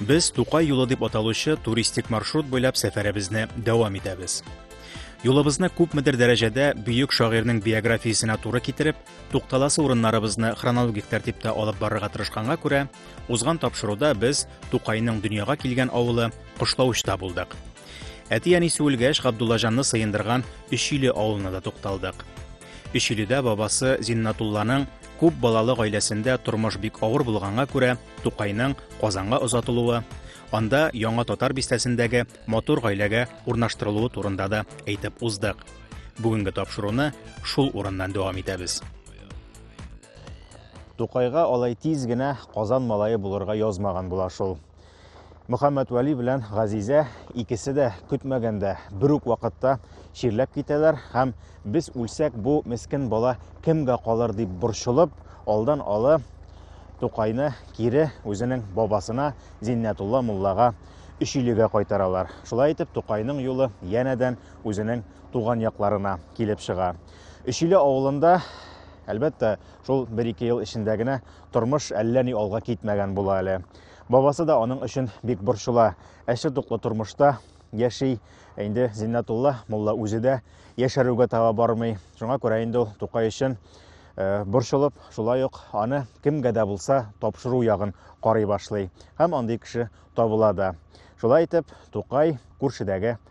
Без Тукай юлы дип аталучы туристик маршрут буйлап сәфәребезне дәвам итәбез. Юлыбызны күпмедер дәрәҗәдә бөек шагыйрьнең биографиясенә туры китереп, тукталасы урыннарыбызны хронологик тәртиптә алып барырга тырышканга күрә, узган тапшыруда без Тукайның дөньяга килгән авылы Кышлаучта булдык. Әти-әни сүелгәч, Габдуллаҗанны сыендырган Өчиле авылына да тукталдык. Өчиледә бабасы Зиннатулланың күп балалы гаиләсендә тормыш бик авыр булганга күрә, Тукайның Казанга озатылуы, анда Яңа Татар бистәсендәге матур гаиләгә урнаштырылуы турында да әйтеп уздык. Бүгенге тапшыруны шул урыннан дәвам итәбез. Тукайга алай тиз генә Казан малае булырга язмаган була шул. Мөхәммәтвәли белән Газизә икесе дә көтмәгәндә бер үк вакытта чирләп китәләр һәм без үлсәк бу мескен бала кемгә калыр дип борчылып, алдан алы Тукайны кире үзенең бабасына Зиннәтулла муллага Өчилегә кайтаралар. Шулай итеп Тукайның юлы янәдән үзенең туган якларына килеп чыга. Өчиле авылында Әлбәттә, шул бер-ике ел эчендә генә тормыш әллә ни алга китмәгән була әле. Бабасы да аның өчен бик борчыла. Әче туклы тормышта яши. Ә инде Зиннәтулла мулла үзе дә яшәрүгә таба бармый. Шуңа күрә инде ул Тукай өчен э, борчылып, шулай ук аны кемгә дә булса тапшыру ягын карый башлый. Һәм андый кеше табыла да. Шулай итеп, Тукай күршедәге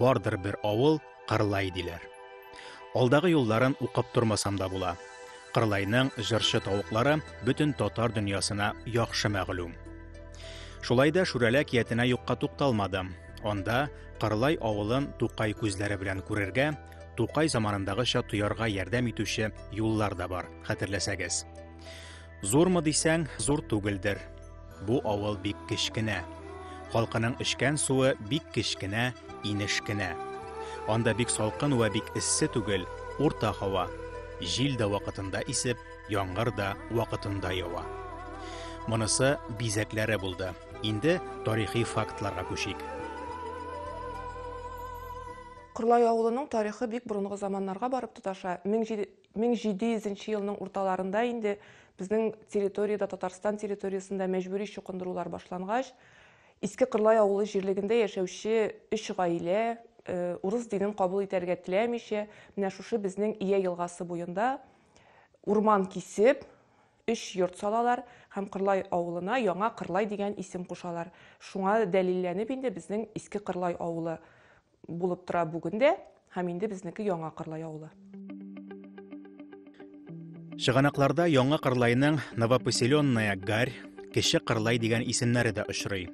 Бардыр бер авыл Кырлай диләр. Алдагы юлларын укып тормасам да була. Кырлайның җырчы тавыклары бөтен татар дөньясына яхшы мәгълүм. Шулай да Шүрәлә киятенә юкка тукталмадым. Анда Кырлай авылын Тукай күзләре белән күрергә, Тукай заманындагыча тоярга ярдәм итүче юллар да бар, хәтерләсәгез. Зурмы дисәң, зур түгелдер. Бу авыл бик кечкенә. Халкының эчкән суы бик кечкенә, инеш кенә. Анда бик салкын вә бик эссе түгел, урта һава. Җил дә вакытында исеп, яңгыр да вакытында ява. Монысы бизәкләре булды. Инде тарихи фактларга күчик. Кырлай авылының тарихы бик борынгы заманнарга барып тоташа. 1700 нче елның урталарында инде безнең территориядә, Татарстан территориясендә мәҗбүри чукындырулар башлангач, Иске Кырлай авылы җирлегендә яшәүче өч гаилә э, урыс динен кабул итәргә теләмичә, менә шушы безнең Ия елгасы буенда урман кисеп, өч йорт салалар һәм Кырлай авылына яңа Кырлай дигән исем кушалар. Шуңа дәлилләнеп инде безнең Иске Кырлай авылы булып тора бүген дә һәм инде безнеке Яңа Кырлай авылы. Чыганакларда Яңа Кырлайның Новопоселенная Гарь, Кече Кырлай дигән исемнәре дә очрый.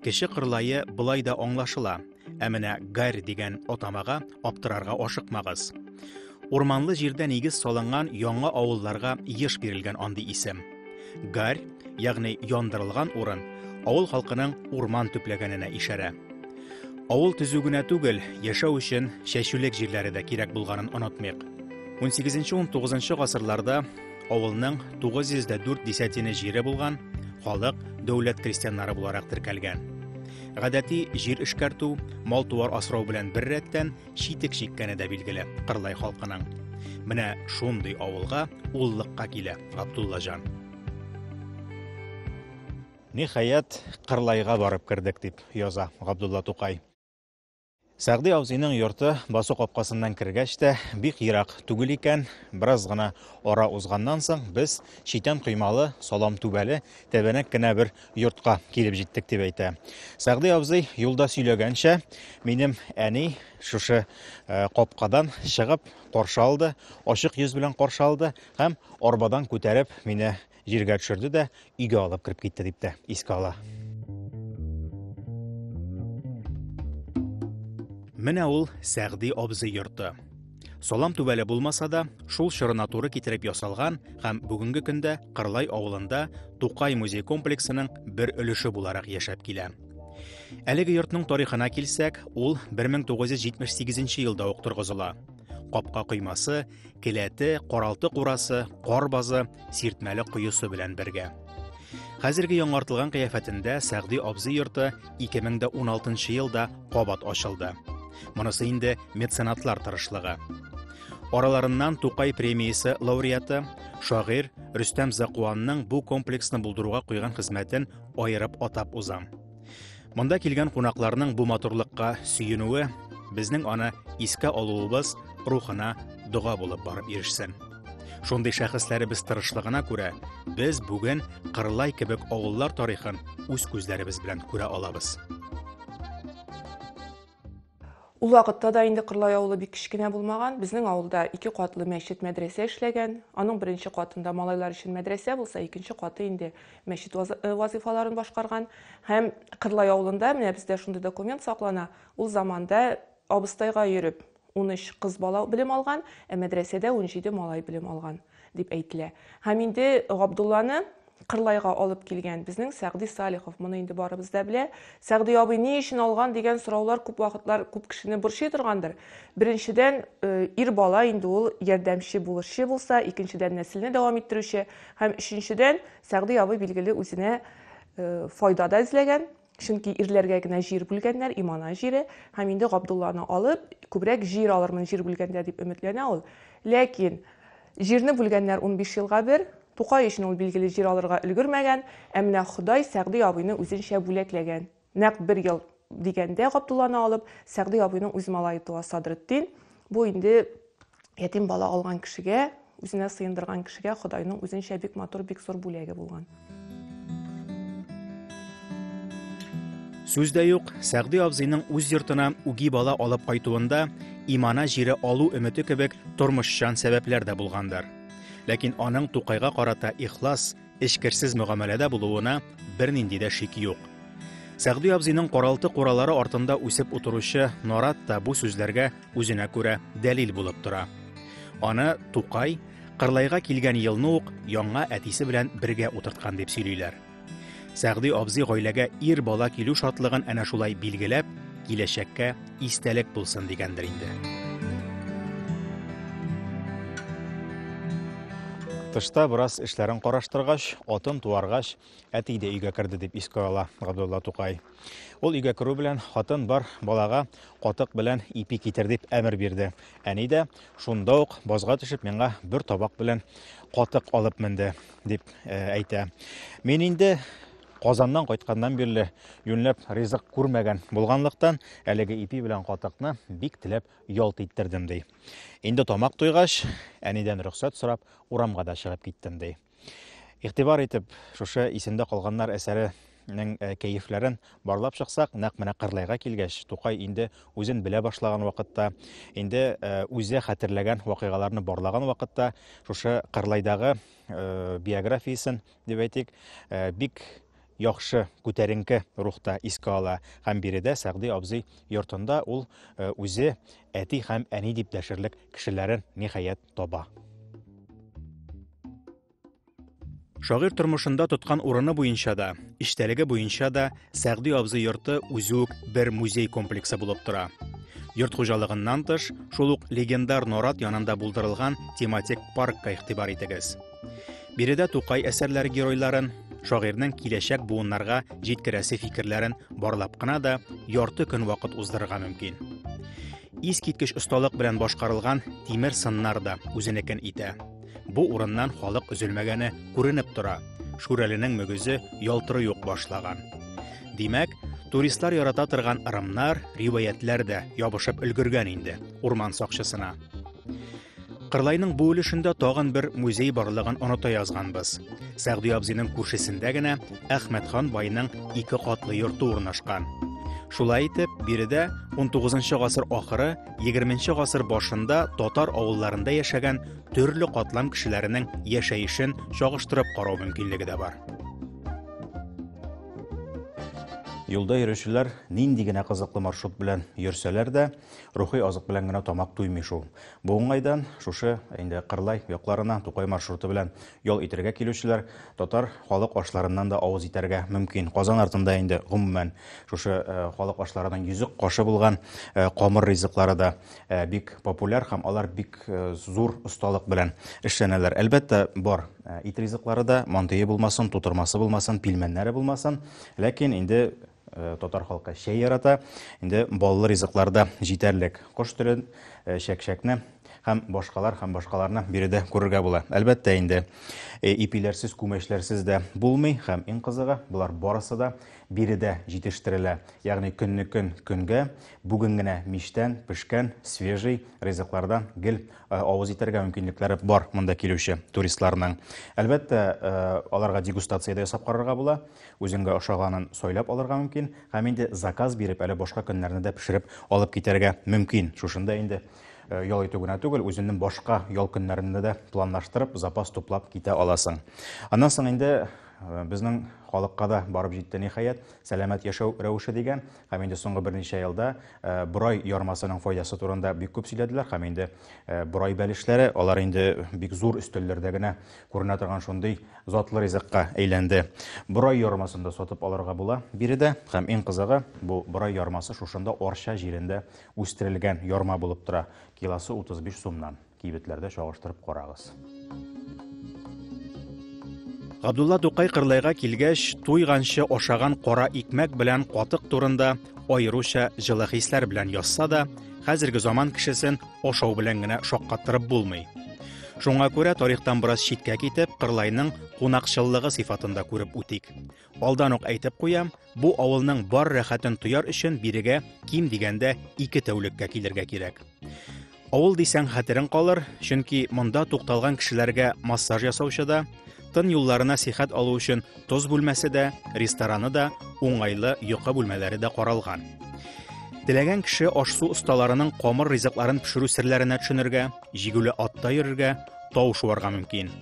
Кече Кырлайы болай да аңлашыла, ә менә Гарь дигән атамага аптырарга ашыкмагыз. Урманлы җирдә нигез салынган яңа авылларга еш бирелгән андый исем. Гарь, ягъни яндырылган урын, авыл халкының урман төпләгәненә ишарә. Авыл төзү генә түгел, яшәү өчен чәчүлек җирләре дә кирәк булганын онытмыйк. 18-19 гасырларда авылның 904 десятина җире булган, халык дәүләт крестьяннары буларак теркәлгән. Гадәти җир эшкәртү, мал-туар асрау белән бер рәттән, читек чиккәне дә билгеле Кырлай халкының. Менә шундый авылга уллыкка килә Абдулла җан. Ниһаять, Кырлайга барып кердек дип яза Габдулла Тукай. Сәгъди абзыйның йорты басу капкасыннан кергәч тә бик ерак түгел икән. Бераз гына ара узганнан соң без читән коймалы, салам түбәле, тәбәнәк кенә бер йортка килеп җиттек дип әйтә. Сәгъди абзый юлда сөйләгәнчә, минем әни шушы э, капкадан чыгып каршы алды, ачык йөз белән каршы алды һәм арбадан күтәреп мине җиргә төшерде дә өйгә алып кереп китте дип тә искә ала. Менә ул Сәгъди абзый йорты. Салам түбәле булмаса да, шул чорына туры китереп ясалган һәм бүгенге көндә Кырлай авылында Тукай музей комплексының бер өлеше буларак яшәп килә. Әлеге йортның тарихына килсәк, ул 1978 елда ук торгызыла. Капка коймасы, келәте, каралты курасы, кар базы, сиртмәле коесы белән бергә. Хәзерге яңартылган кыяфәтендә Сәгъди абзый йорты 2016 елда кабат ачылды. Монысы инде меценатлар тырышлыгы. Араларыннан Тукай премиясе лауреаты, шагыйрь Рөстәм Закуанның бу комплексны булдыруга куйган хезмәтен аерып атап узам. Монда килгән кунакларның бу матурлыкка сөенүе безнең аны искә алуыбыз рухына дога булып барып ирешсен. Шундый шәхесләребез тырышлыгына күрә, без бүген Кырлай кебек авыллар тарихын үз күзләребез белән күрә алабыз. Ул вакытта да инде Кырлай авылы бик кечкенә булмаган. Безнең авылда ике катлы мәчет, мәдрәсә эшләгән. Аның беренче катында малайлар өчен мәдрәсә булса, икенче каты инде мәчет э, вазыйфаларын башкарган. Һәм Кырлай авылында, менә бездә шундый документ саклана, ул заманда абыстайга йөреп, 13 кыз бала белем алган, ә мәдрәсәдә 17 малай белем алган. дип әйтелә. Һәм инде Габдулланы Кырлайга алып килгән безнең Сәгъди Салихов, моны инде барыбыз да белә. Сәгъди абый ни өчен алган дигән сораулар күп вакытлар күп кешене борчый торгандыр. Беренчедән, э, ир бала инде ул ярдәмче булышчы булса, икенчедән нәселне дәвам иттерүче һәм өченчедән, Сәгъди абый билгеле үзенә э, файда да эзләгән, Чөнки ирләргә генә җир бүлгәннәр, Имана җире, һәм инде Габдулланы алып, күбрәк җир алырмын җир бүлгәндә, дип өметләнә ул. Ләкин җирне бүлгәннәр унбиш елга бер. Тукай өчен ул, билгеле, җир алырга өлгермәгән. Ә менә Ходай Сәгъди абыйны үзенчә бүләкләгән. Нәкъ бер ел дигәндә Габдулланы алып, Сәгъди абыйның үз малае туа, Садретдин. Бу инде Ятим бала алган кешегә, үзенә сыендырган кешегә Ходайның үзенчә бик матур, бик зур бүләге булган. Сүз дә юк, Сәгъди абзыйның үз йортына үги бала алып кайтуында имана җире алу өмете кебек тормышчан сәбәпләр дә булгандыр. Ләкин аның Тукайга карата ихлас, эчкерсез мөгамәләдә булуына бернинди дә шик юк. Сәгъди абзыйның каралты куралары артында үсеп утыручы Норат та бу сүзләргә үзенә күрә дәлил булып тора. Аны Тукай Кырлайга килгән елны ук яңа әтисе белән бергә утырткан дип сөйлиләр. Сәгъди абзый гаиләгә ир бала килү шатлыгын әнә шулай билгеләп, киләчәккә истәлек булсын дигәндер инде. Тышта бераз эшләрен караштыргач, атын туаргач, әти дә өйгә керде дип искә ала Габдулла Тукай. Ул өйгә керү белән хатын бар балага катык белән ипи китер дип әмер бирде. Әни дә шунда ук базга төшеп миңа бер табак белән катык алып менде дип э, әйтә. Мин инде Казаннан кайтканнан бирле юньләп ризык күрмәгән булганлыктан, әлеге ипи белән катыкны бик теләп ялт иттердем, ди. Инде тамак туйгач, әнидән рөхсәт сорап, урамга да чыгып киттем, ди. Игътибар итеп, шушы исемдә калганнар әсәре нең э, кәефләрен барлап чыксак, нәкъ менә Кырлайга килгәч, Тукай инде үзен белә башлаган вакытта, инде э, үзе хәтерләгән вакыйгаларны барлаган вакытта, шушы Кырлайдагы э, биографиясен дип әйтик, э, бик яхшы күтәренке рухта искә ала һәм биредә Сәгъди абзый йортында ул э, үзе әти һәм әни дип дәшерлек кешеләрен ниһаять таба. Шагыйрь тормышында тоткан урыны буенча да, иштәлеге буенча да Сәгъди абзый йорты үзе үк бер музей комплексы булып тора. Йорт хуҗалыгыннан тыш, шул ук легендар Норат янында булдырылган тематик паркка игътибар итегез. Биредә Тукай әсәрләре геройларын, шагыйрьнең киләчәк буыннарга җиткерәсе фикерләрен барлап кына да ярты көн вакыт уздырырга мөмкин. Искиткеч осталык белән башкарылган тимер сыннар да үзенекен итә. Бу урыннан халык өзелмәгәне күренеп тора. Шүрәленең мөгезе ялтырый ук башлаган. Димәк, туристлар ярата торган ырымнар, риваятләр дә ябышып өлгергән инде урман сакчысына. Кырлайның бу өлешендә тагын бер музей барлыгын оныта язганбыз. Сәгъди абзыйның күршесендә генә Әхмәтхан байның ике катлы йорты урнашкан. Шулай итеп, биредә 19 гасыр ахыры, 20 гасыр башында татар авылларында яшәгән төрле катлам кешеләренең яшәешен чагыштырып карау мөмкинлеге дә бар. Юлда йөрүчеләр нинди генә кызыклы маршрут белән йөрсәләр дә, рухи азык белән генә тамак туймый шул. Бу уңайдан шушы инде Кырлай якларына Тукай маршруты белән ял итәргә килүчеләр татар халык ашларыннан да авыз итәргә мөмкин. Казан артында инде гомумән шушы э, халык ашларының йөзек кашы булган э, камыр ризыклары да э, бик популяр һәм алар бик зур осталык белән эшләнәләр. Әлбәттә, бар ит ризыклары да, мантые булмасын, тутырмасы булмасын, пилмәннәре булмасын, ләкин инде Э, татар халкы чәй ярата. Инде баллы ризыклар да җитәрлек. Кош телен, э, чәкчәкне һәм башкалар һәм башкаларны биредә күрергә була. Әлбәттә инде э, ипиләрсез, күмәчләрсез дә булмый һәм иң кызыгы, болар барысы да биредә җитештерелә. Ягъни көннекен көнгә, бүген генә мичтән пешкән свежий ризыклардан гел авыз итәргә мөмкинлекләре бар монда килүче туристларның. Әлбәттә, аларга дегустация дә ясап карарга була. Үзеңгә ошаганын сайлап алырга мөмкин, һәм инде заказ биреп, әле башка көннәрне дә пешереп алып китәргә мөмкин. Шушында инде ял итү генә түгел, үзеңнең башка ял көннәреңне дә планлаштырып, запас туплап китә аласың. Аннан соң инде безнең халыкка да барып җитте, ниһаять, сәламәт яшәү рәвеше дигән, һәм инде соңгы берничә елда борай ярмасының файдасы турында бик күп сөйләделәр, һәм инде борай бәлешләре, алар инде бик зур өстәлләрдә генә Күренә торган шундый затлы ризыкка әйләнде. Борай ярмасын да сатып алырга була биредә. Һәм иң кызыгы, бу борай ярмасы шушында Арча җирендә үстерелгән ярма булып тора. Килосы 35 сумнан. Кибетләрдә чагыштырып карагыз. Габдулла Тукай Кырлайга килгәч, туйганчы ашаган кара икмәк белән катык турында Аеруча җылы хисләр белән язса да, хәзерге заман кешесен ашау белән генә шаккаттырып булмый. Шуңа күрә тарихтан бераз читкә китеп, Кырлайның кунакчыллыгы сыйфатында күреп үтик. Алдан ук әйтеп куям, бу авылның бар рәхәтен тояр өчен бирегә ким дигәндә ике тәүлеккә килергә кирәк. Авыл дисәң хәтерең калыр, чөнки монда тукталган кешеләргә массаж ясаучы да, тын юлларына сихәт алу өчен тоз бүлмәсе дә, рестораны да, уңайлы йокы бүлмәләре дә каралган. Теләгән кеше аш-су осталарының камыр ризыкларын пешерү серләренә төшенергә, җигүле атта йөрергә, тау шуарга мөмкин.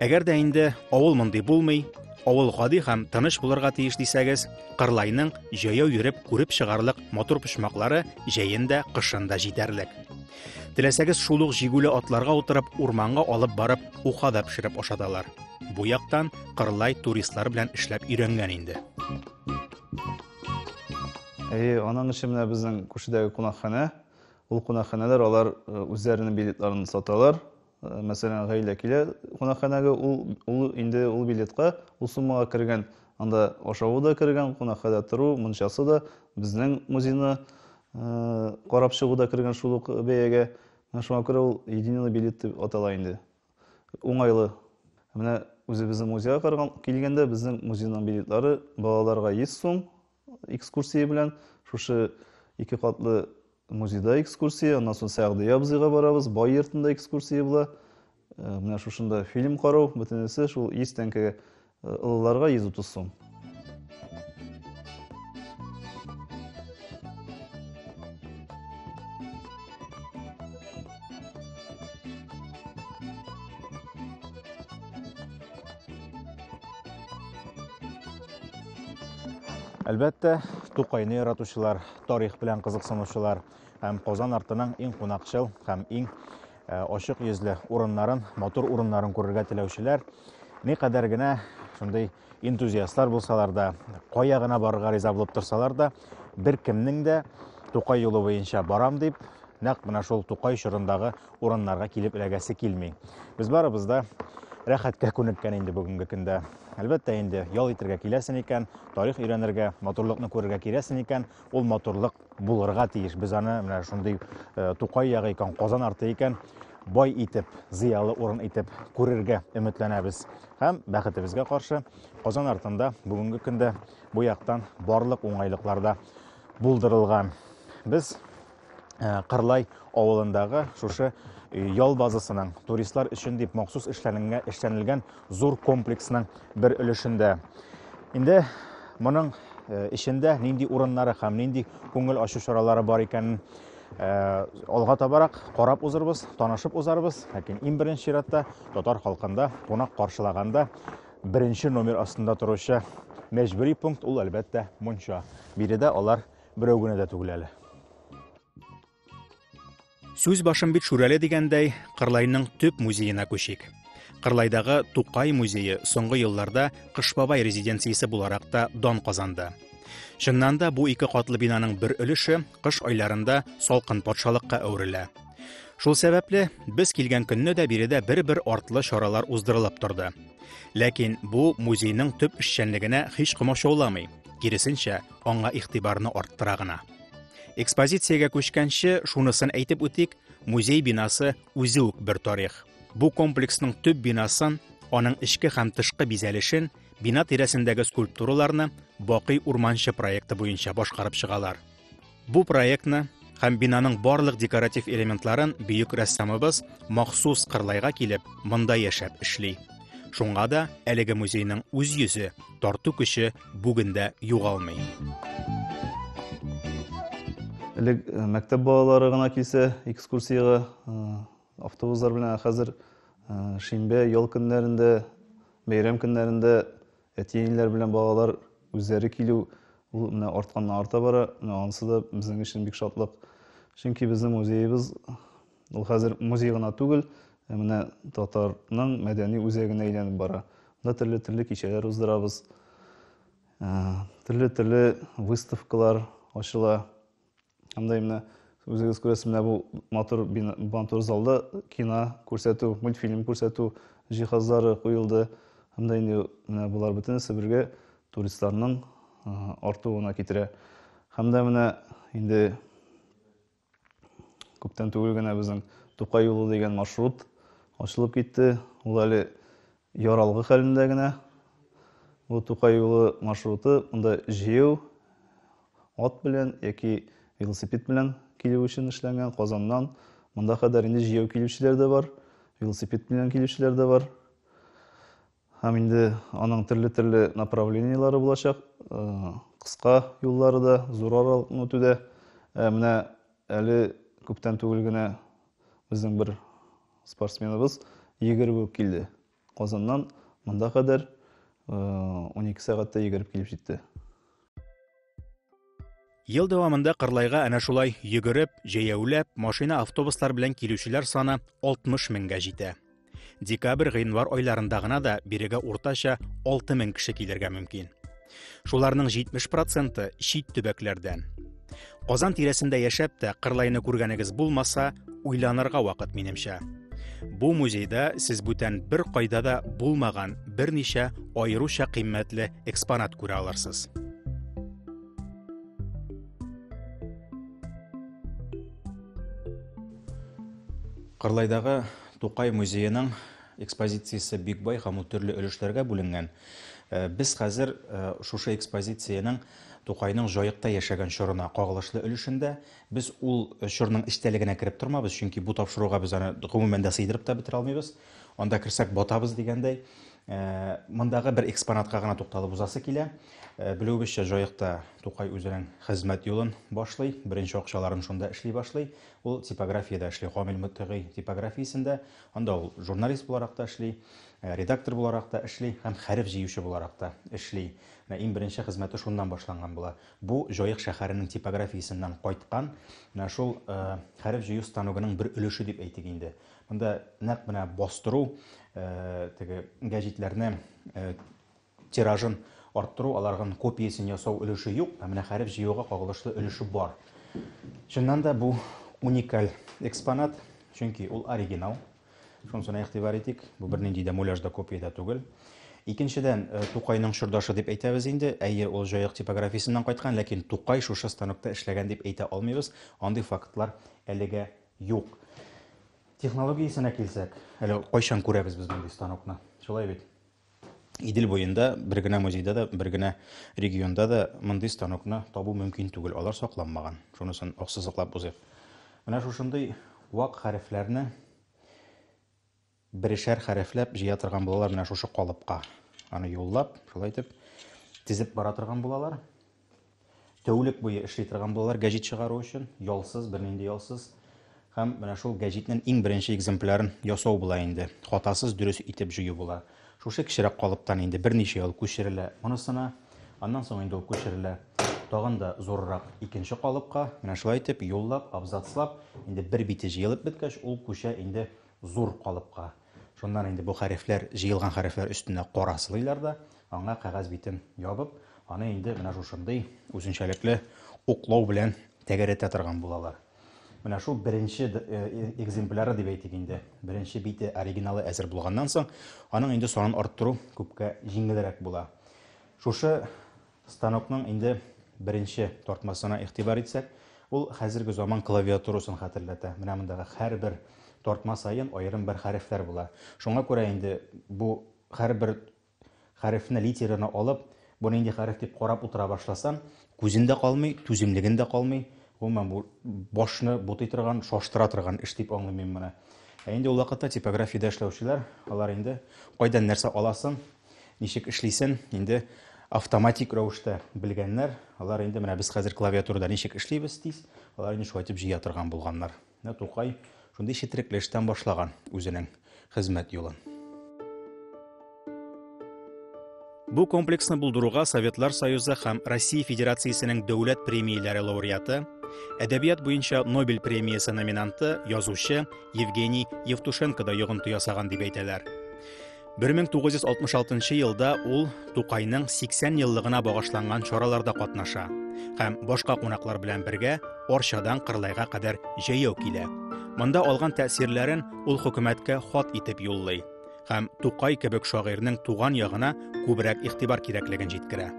Әгәр дә инде авыл мондый булмый, авыл гади һәм тыныч булырга тиеш дисәгез, Кырлайның җәяү йөреп күреп чыгарлык матур почмаклары җәен дә, кышын да җитәрлек. Теләсәгез шул ук җигүле атларга утырып, урманга алып барып, уха да пешереп ашаталар. Бу яктан Кырлай туристлар белән эшләп өйрәнгән инде. Әйе, аның өчен менә безнең күршедәге кунакханә. Ул кунакханәләр алар э, үзләренең билетларын саталар. мәсәлән, гаилә килә кунакханәгә, ул, ул инде ул билетка, ул суммага кергән, анда ашавы да кергән, кунакханәдә тору, мунчасы да, безнең музейны карап чыгу да кергән шул ук бәягә. Менә шуңа күрә ул единый билет дип атала инде. Уңайлы. Менә үзебезнең музейга караган килгәндә, безнең музейның билетлары балаларга 100 сум, экскурсия белән шушы ике катлы музейда экскурсия аннан соң сәгъдия абзыйга барабыз бай йортында экскурсия була э, менә шушында фильм карау бөтенесе шул йөз тәңкәгә э, олыларга йөз утыз сум Әлбәттә, Тукайны яратучылар, тарих белән кызыксынучылар һәм Казан артының иң кунакчыл һәм иң э, ачык йөзле урыннарын, матур урыннарын күрергә теләүчеләр ни кадәр генә шундый энтузиастлар булсалар да, кая гына барырга риза булып торсалар да, бер кемнең дә Тукай юлы буенча барам дип, нәкъ менә шул Тукай чорындагы урыннарга килеп эләгәсе килми. Без барыбыз да рәхәткә күнеккән инде бүгенге көндә. Әлбәттә инде ял итергә киләсен икән, тарих өйрәнергә, матурлыкны күрергә киләсен икән, ул матурлык булырга тиеш. Без аны менә шундый э, Тукай ягы икән, Казан арты икән, бай итеп, зыялы урын итеп күрергә өметләнәбез. Һәм бәхетебезгә каршы Казан артында бүгенге көндә бу яктан барлык уңайлыклар да булдырылган. Без Э, Кырлай авылындагы шушы э, ял базасының туристлар өчен дип махсус эшләнелгән зур комплексның бер өлешендә. Инде моның э, эчендә нинди урыннары һәм нинди күңел ачу чаралары бар икәнен алга табарак карап узырбыз, танышып узарбыз. Ләкин иң беренче чиратта татар халкында кунак каршылаганда беренче номер астында торучы мәҗбүри пункт ул әлбәттә мунча. Биредә алар Берәү генә дә түгел әле. Сүз башым бит Шүрәле дигәндәй, Кырлайның төп музеена күчик. Кырлайдагы Тукай музее соңгы елларда Кыш бабай резиденциясе буларак та дан казанды. Чыннан да бу ике катлы бинаның бер өлеше кыш айларында салкын патшалыкка әверелә. Шул сәбәпле без килгән көнне дә биредә бер-бер артлы чаралар уздырылып торды. Ләкин бу музейның төп эшчәнлегенә һич комачауламый, киресенчә, аңа игътибарны арттыра гына. Экспозициягә күчкәнче, шунысын әйтеп үтик, музей бинасы үзе үк бер тарих. Бу комплексның төп бинасын, аның эчке һәм тышкы бизәлешен, бина тирәсендәге скульптураларны Бакый урманчы проекты буенча башкарып чыгалар. Бу проектны һәм бинаның барлык декоратив элементларын бөек рәссамыбыз махсус Кырлайга килеп, монда яшәп эшли. Шуңа да әлеге музейның үз йөзе, тарту көче бүген дә югалмый. Элек э, мәктәп балалары гына килсә экскурсиягә э, автобуслар белән, ә хәзер э, шимбә, ял көннәрендә, бәйрәм көннәрендә әти-әниләр белән балалар үзләре килү ул менә артканнан арта бара. Менә анысы да безнең өчен бик шатлык. Чөнки безнең музеебыз Ул хәзер музей гына түгел, ә менә татарның мәдәни үзәгенә әйләнеп бара. Монда төрле-төрле кичәләр уздырабыз. Ә, төрле-төрле выставкалар ачыла. Һәм дә менә үзегез күрәсез, менә бу матур матур залда кино күрсәтү, мультфильм күрсәтү җиһазлары куелды. Һәм дә инде менә болар бөтенесе бергә туристларның артуына китерә. Һәм дә менә инде Күптән түгел генә безнең Тукай юлы дигән маршрут ачылып китте. Ул әле яралгы хәлендә генә. Бу Тукай юлы маршруты монда җыю ат белән яки велосипед белән килү өчен эшләнгән Казаннан. Монда кадәр инде җыю килүчеләр дә бар, велосипед белән килүчеләр дә бар. Һәм инде аның төрле-төрле направлениеләре булачак. Кыска юллары да, зур аралыкны үтү дә. Менә әле күптән түгел генә безнең бер спортсменыбыз йөгереп үк килде. Казаннан монда кадәр 12 сәгатьтә йөгереп килеп җитте. Ел дәвамында Кырлайга әнә шулай йөгереп, җәяүләп, машина, автобуслар белән килүчеләр саны 60 меңгә җитә. Декабрь, гыйнвар айларында гына да бирегә уртача 6 мең кеше килергә мөмкин. Шуларның 70 проценты чит төбәкләрдән. Казан тирәсендә яшәп тә Кырлайны күргәнегез булмаса, уйланырга вакыт минемчә. Бу музейда сез бүтән бер кайда да булмаган берничә аеруча кыйммәтле экспонат күрә алырсыз. Кырлайдагы Тукай музееның экспозициясе бик бай һәм ул төрле өлешләргә бүленгән. Э, без хәзер э, шушы экспозициянең Тукайның Җаекта яшәгән чорына кагылышлы өлешендә без ул чорның эчтәлегенә кереп тормабыз, чөнки бу тапшыруга без аны гомумән дә сыйдырып та бетерә алмыйбыз. Анда керсәк, батабыз дигәндәй. Мондагы бер экспонатка гына тукталып узасы килә. Белүебезчә, Җаекта Тукай үзенең хезмәт юлын башлый, беренче акчаларын шунда эшли башлый. Ул типографиядә эшли, Камил Мотыйгый типографиясендә. Анда ул журналист буларак та эшли, редактор буларак та эшли һәм хәреф җыючы буларак та эшли. Менә иң беренче хезмәте шуннан башланган була. Бу Җаек шәһәренең типографиясеннән кайткан менә шул хәреф җыю станогының бер өлеше дип әйтик инде. Монда нәкъ менә бастыру, теге гәҗитләрне тиражын арттыру, аларның копиясен ясау өлеше юк, ә менә хәреф җыюга кагылышлы өлеше бар. Чыннан да бу уникаль экспонат, чөнки ул оригинал. Шунысына игътибар итик, бу бернинди дә муляж да копия да түгел. Икенчедән, э, Тукайның чордашы дип әйтәбез инде. Әйе, ул җаек типографиясеннән кайткан, ләкин Тукай шушы станокта эшләгән дип әйтә алмыйбыз. Андый фактлар әлегә юк. Технологиясенә килсәк, әле кайчан күрәбез без мондый станокны? Шулай бит? Идел буенда бер генә музейда да, бер генә регионда да мондый станокны табу мөмкин түгел, алар сакланмаган. Шунысын аксызыклап узыйк. Менә шушындый вак хәрефләрне берешәр хәрефләп җыя торган булалар менә шушы калыпка. Аны юллап, шулай итеп тезеп бара торган булалар. Тәүлек буе эшли торган булалар гәҗит чыгару өчен, ялсыз, бернинди ялсыз. Һәм менә шул гәҗитнең иң беренче экземплярын ясау була инде. Хатасыз дөрес итеп җыю була. Шушы кечерәк калыптан инде берничә ел күчерелә монысына. Аннан соң инде ул күчерелә тагын да зуррак икенче калыпка. Менә шулай итеп юллап, абзацлап, инде бер бите җыелып беткәч, ул күчә инде зур калыпка. Шуннан инде бу хәрефләр, җыелган хәрефләр өстенә караслыйлар да, аңа кәгазь битен ябып, аны инде менә шушындый үзенчәлекле уклау белән тәгәрәтә торган булалар. Менә шул беренче экземпляры дип әйтик инде. Беренче бите, оригиналы әзер булганнан соң, аның инде санын арттыру күпкә җиңелрәк була. Шушы Станокның инде беренче тартмасына игътибар итсәк, ул хәзерге заман клавиатурасын хәтерләтә. Менә мондагы һәрбер тартма саен аерым бер хәрефләр була. Шуңа күрә инде бу һәрбер хәрефне, литераны алып, бу нинди хәреф дип карап утыра башласам, күзем дә калмый, түземлегем дә калмый. Гомумән, бу башны бутый торган, шаштыра торган эш дип аңлыйм мин моны. Ә инде ул вакытта типографиядә эшләүчеләр, алар инде кайдан нәрсә аласын, Ничек эшлисен инде автоматик рәвештә белгәннәр. Алар инде менә без хәзер клавиатурада ничек эшлибез тиз, алар инде шулай итеп җыя торган булганнар. Менә Тукай шундый четерекле эштән башлаган үзенең хезмәт юлын. Бу комплексны булдыруга Советлар Союзы һәм Россия Федерациясенең дәүләт премияләре лауреаты, әдәбият буенча Нобель премиясе номинанты, язучы Евгений Евтушенко да йогынты ясаган дип әйтәләр. 1966 елда ул Тукайның 80 еллыгына багышланган чараларда катнаша һәм башка кунаклар белән бергә Орчадан Кырлайга кадәр җәяү килә. Монда алган тәэсирләрен ул хөкүмәткә хат итеп юллый һәм Тукай кебек шагыйрьнең туган ягына күбрәк игътибар кирәклеген җиткерә.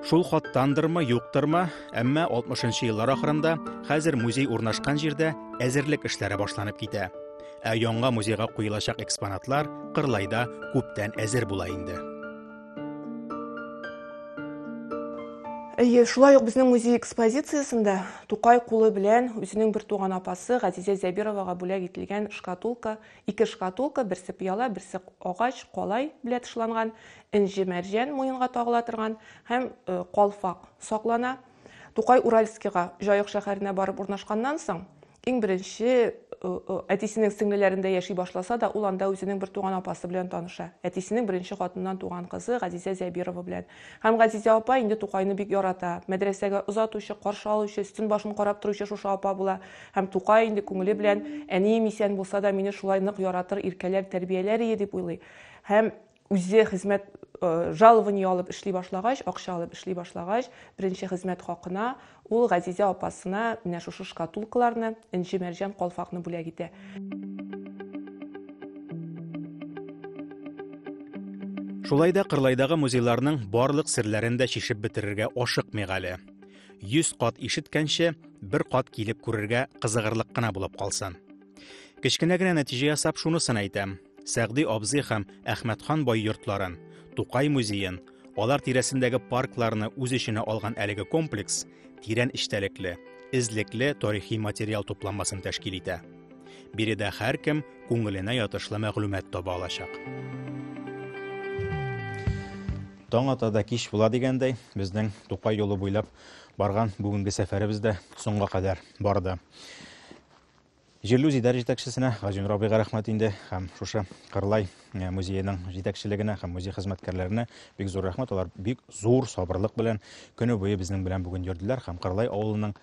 Шул хаттандырмы, юктырмы, әмма 60 еллар ахырында хәзер музей урнашкан җирдә әзерлек эшләре башланып китә. Ә яңа музейга куелачак экспонатлар Кырлайда күптән әзер була инде. Әйе, шулай ук безнең музей экспозициясендә Тукай кулы белән үзенең бер туган апасы Газизә Зәбировага бүләк ителгән шкатулка, ике шкатулка, берсе пыяла, берсе агач, калай белә тышланган, энҗе-мәрҗән муенга тагыла торган һәм э, калфак саклана. Тукай Уральскига, Җаек шәһәренә барып урнашканнан соң, иң беренче э, э, әтисенең сеңлеләрендә яши башласа да, ул анда үзенең бер туган апасы белән таныша. Әтисенең беренче хатыннан туган кызы Газизә Зәбирова белән. Һәм Газизә апа инде Тукайны бик ярата. Мәдрәсәгә озатучы, каршы алучы, өстен башын карап торучы шушы апа була. Һәм Тукай инде күңеле белән әнием исән булса да, мине шулай нык яратыр, иркәләр, тәрбияләр ие дип уйлый. Һәм үзе хезмәт э, жалование алып эшли башлагач акча алып эшли башлагач беренче хезмәт хакына ул газизә апасына менә шушы шкатулкаларны энҗе мәрҗән калфакны бүләк итә Шулай да Кырлайдагы музейларның барлык серләрен дә чишеп бетерергә ашыкмыйк әле. 100 кат ишеткәнче, бер кат килеп күрергә кызыгырлык кына булып калсын. Кечкенә генә нәтиҗә ясап шунысын әйтәм. Сәгъди абзый һәм Әхмәтхан бай йортларын, Тукай музеен, алар тирәсендәге паркларны үз эченә алган әлеге комплекс тирән эчтәлекле, эзлекле тарихи материал тупланмасын тәшкил итә. Биредә һәркем күңеленә ятышлы мәгълүмат таба алачак. Таң ата да кич була дигәндәй, безнең Тукай юлы буйлап барган бүгенге сәфәребез дә соңга кадәр барды. Җирле үзидарә җитәкчесенә Газинур абыйга рәхмәт инде һәм шушы Кырлай э, музееның җитәкчелегенә һәм музей хезмәткәрләренә бик зур рәхмәт. Алар бик зур сабырлык белән көне буе безнең белән бүген йөрделәр һәм Кырлай авылының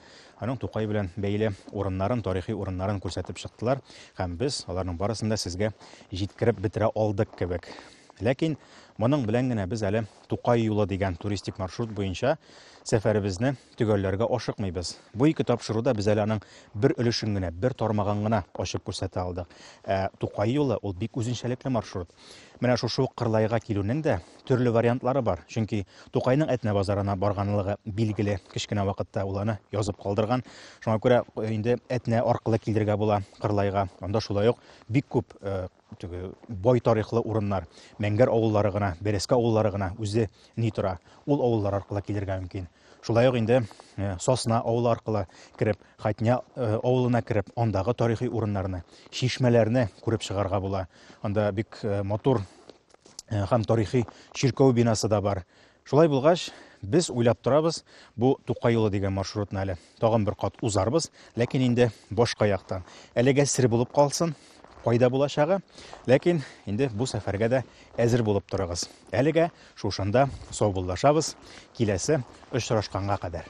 аның Тукай белән бәйле урыннарын, тарихи урыннарын күрсәтеп чыктылар һәм без аларның барысын да сезгә җиткереп бетерә алдык кебек. Ләкин моның белән генә без әле Тукай юлы дигән туристик маршрут буенча сәфәребезне Төгәлләргә ашыкмыйбыз. Бу ике тапшыру да без әле аның бер өлешен генә, бер тармагын гына ачып күрсәтә алдык. Ә Тукай юлы, ул бик үзенчәлекле маршрут. Менә шушы ук Кырлайга килүнең дә төрле вариантлары бар, чөнки Тукайның Әтнә базарына барганлыгы билгеле, кечкенә вакытта ул аны язып калдырган. Шуңа күрә инде Әтнә аркылы килергә була Кырлайга. Анда шулай ук бик күп Теге бай тарихлы урыннар, Мәңгәр авыллары гына, Бәрәскә авыллары гына үзе ни тора, ул авыллар аркылы килергә мөмкин. Шулай ук инде э, Сосна авылы аркылы кереп, Хатня э, авылына кереп, андагы тарихи урыннарны, чишмәләрне күреп чыгарга була. Анда бик э, матур һәм тарихи чиркәү бинасы да бар. Шулай булгач, без уйлап торабыз бу Тукай юлы дигән маршрутны әле. Тагын бер кат узарбыз, ләкин инде башка яктан. Әлегә сер булып калсын, кайда булачагы, ләкин инде бу сәфәргә дә әзер булып торыгыз. Әлегә шушында саубуллашабыз, киләсе очрашканга кадәр.